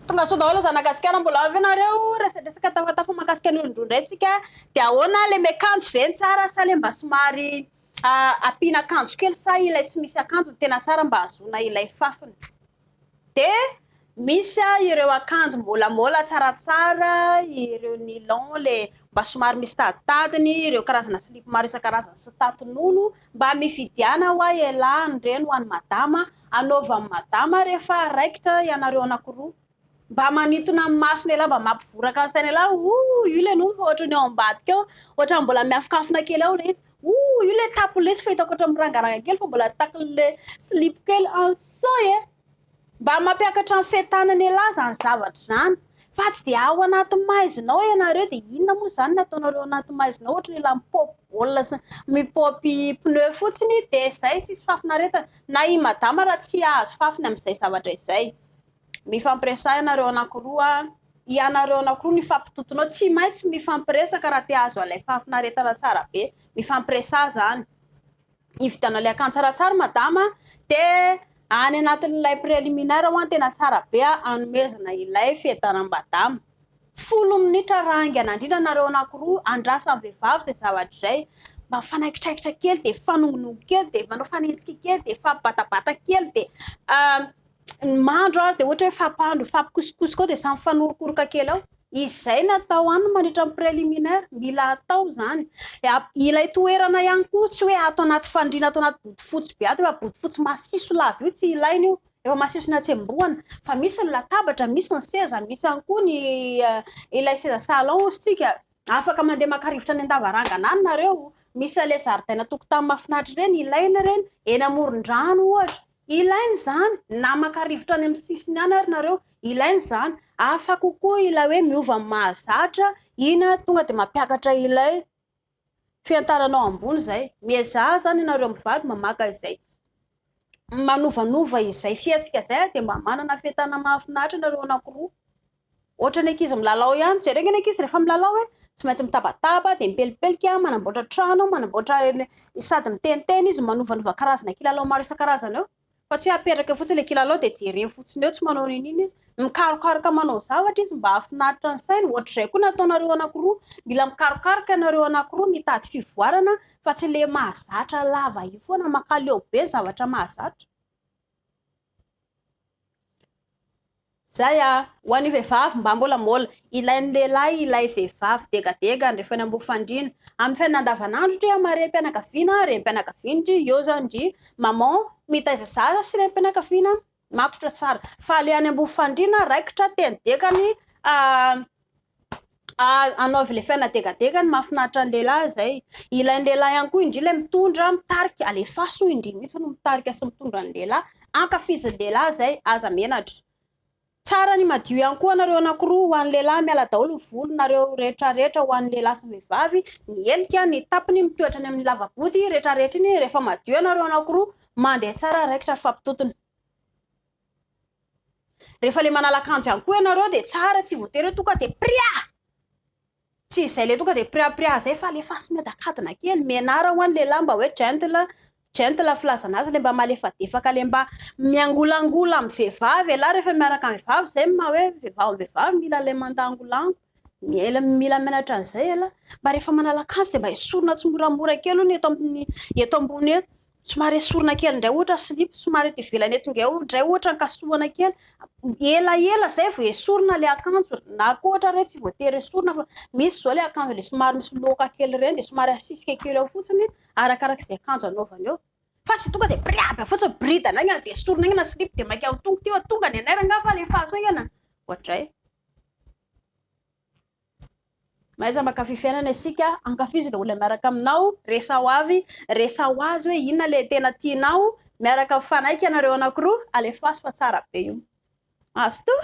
Tongasoa daholo zanaka gasikara mbola ao ve nareo resadresaka tafatafa makasika ny olondroa ndray tsika de ahoana le miakanjo ve ny tsara sa le mba somary ampiana akanjo kely sa ilay tsy misy akanjo ny tena tsara mba hahazoana ilay fafiny de misy a ireo akanjo mbola mbola tsaratsara ireo nilon le mba somary misy taditadiny ireo karazana silipo maro isan-karazany sy tatinono Mba mividiana hoa elah an'ireny ho an'i madama, anaova an'i madama rehefa raikitra ianareo anakiroa. Mba manintona ny masony elah, mba mampivoraka ny sainy elah, ooh io le nofo ohatran'ny ao ambadika ao, ohatran'ny mbola miafinkafina kely ao le izy, ooh io le tapony le izy fa hitako ohatran'ny mirangaranga kely fa mbola takin'le silipo kely, an sao e! Mba mampiakatra ny fetanana elah zany zavatra zany fa tsy dia ao anaty maizinao ianareo dia inona moa zany ny ataonareo ao anaty maizinao ohatra ny elah mipop baolina sy mipop pneu fotsiny dia zay tsisy fafinaretana na i madama raha tsy ahazo fafiny amin'izay zavatra izay mifampiresaha ianareo anakiroa ianareo anakiroa no ifampitotonao tsy maintsy mifampiresaka raha te ahazo an'ilay fafinaretana tsara be mifampiresaha zany hividianana ilay akanjo tsaratsara madama dia any anatin'ilay préliminaire ho'a tena tsara be anomezana ilay fiadanam badama folo minitra raha haingana indrindra nareo anakiroa andrasan'ny vehivavy izay zavatra izay mba fanaikitraikitra kely dia fanongonongo kely dia manao fanenjika kely dia fabbatabata kely dia ny mandro ary dia ohatra hoe fampandro, fampikosokosoko ao dia samy mifanorokoroka kely ao. Izay natao any mandritra ny préliminaire, mila atao izany. Ilay toerana ihany koa tsy hoe ato anaty fandriana, ato anaty bodofotsy be ato, efa bodofotsy masiso lava io tsy ilaina io, efa masiso natsembohana. Fa misy ny latabatra, misy ny seza, misy ihany koa ny eh, ilay seza salon hozy tsika. Afaka mandeha maka rivotra any an-davarangana any nareo. Misy ilay zaridaina tokotany mahafinaritra ireny, ilaina ireny. Eny amoron-drano ohatra, Ilaina izany, na maka rivotra any amin'ny sisiny any ary nareo, ilaina izany. Hafa kokoa ilay hoe miova amin'ny mahazatra, ina tonga dia mampiakatra ilay fiantaranao ambony izay. Miezaha izany ianareo mivady mba maka izay manovanova izay fihetsika izay dia mba manana fientana mahafinaritra nareo anankiroa. Ohatran'ny ankizy milalao ihany. Jereo ny ankizy rehefa milalao e, tsy maintsy mitabataba, dia mipelipelika, manamboatra trano, manamboatra sady miteniteny izy, manovanova karazana kilalao maro isan-karazany eo. Fa tsy hoe apetraka eo fotsiny ilay kilalao dia jereny fotsiny eo, tsy manao n'inon'inona izy. Mikarokaroka manao zavatra izy mba hahafinaritra ny sainy. Ohatr'izay koa ny ataonareo anankiroa. Mila mikarokaroka ianareo anankiroa, mitady fivoarana fa tsy ilay mahazatra lava io foana, makaleo be zavatra mahazatra. Zay a! Ho an'ny vehivavy mba molamola. Ilain'ny lehilahy ilay vehivavy degadegany rehefa eny am-bofandriana. Amin'ny fiainana andavanandro ndry amin'ny harem-pianakaviana, renim-pianakaviana ndry eo izany ndry maman mitaiza zaza sy renim-pianakaviana matotra tsara. Fa ilay any am-bofandriana raikitra teny dekany. anaovy ilay fianadegadega ny mahafinaritra ny lehilahy izay. Ilay ny lehilahy ihany koa indry ilay mitondra, mitarika, alefaso hoy indry mihitsy no mitarika sy mitondra ny lehilahy. Ankafizin'ny lehilahy izay, aza menatra. Tsara ny madio ihany koa anareo anankiroa ho an'ny lehilahy, miala daholo ny volonareo rehetra rehetra ho an'ny lehilahy sy vehivavy, ny helika, ny tapiny mitoetra any amin'ny lavabody rehetra rehetra iny rehefa madio anareo anankiroa, mandeha tsara raikitra fampitontona. Rehefa le manala akanjo ihany koa ianareo dia tsara tsy voatery hoe tonga dia pria! Tsy izay le tonga dia pria pria izay fa alefaso miadakadina kely, menara ho an'ny lehilahy mba hoe gentle, gentle filazana azy le mba malefadefaka le mba miangolangola amin'ny vehivavy ialahy rehefa miaraka amin'ny vehivavy izay ny maha hoe vehivavy amin'ny vehivavy mila ilay mandangolango, mila menatra an'izay ialahy, mba rehefa manala akanjo dia mba esorina tsimoramora kely hono eto amin'ny eto ambony eto, Somary esorina kely indray ohatra ny silipo, somary eto ivelany eto ingahy indray ohatra ny kasohana kely, ela ela izay vao esorina ilay akanjo, na koa ohatra hoe tsy voatery esorina fa misy izao ilay akanjo ilay somary misy loaka kely ireny dia somary asisika kely ao fotsiny arakaraka izay akanjo anaovana eo. Fa tsy tonga dia briaba fotsiny, bridana aingana dia esorina aingana ny silipo dia mainka tonga ity fa tonga ny anay rangahy fa alefaso aingana, ohatr'izay. Mahaiza makafy fiainana isika, ankafizo ilay olona miaraka aminao, resaho avy, resaho azy hoe inona ilay tena tianao, miaraka mifanaiky ianareo anankiroa, alefaso fa tsara be io. Azo toa?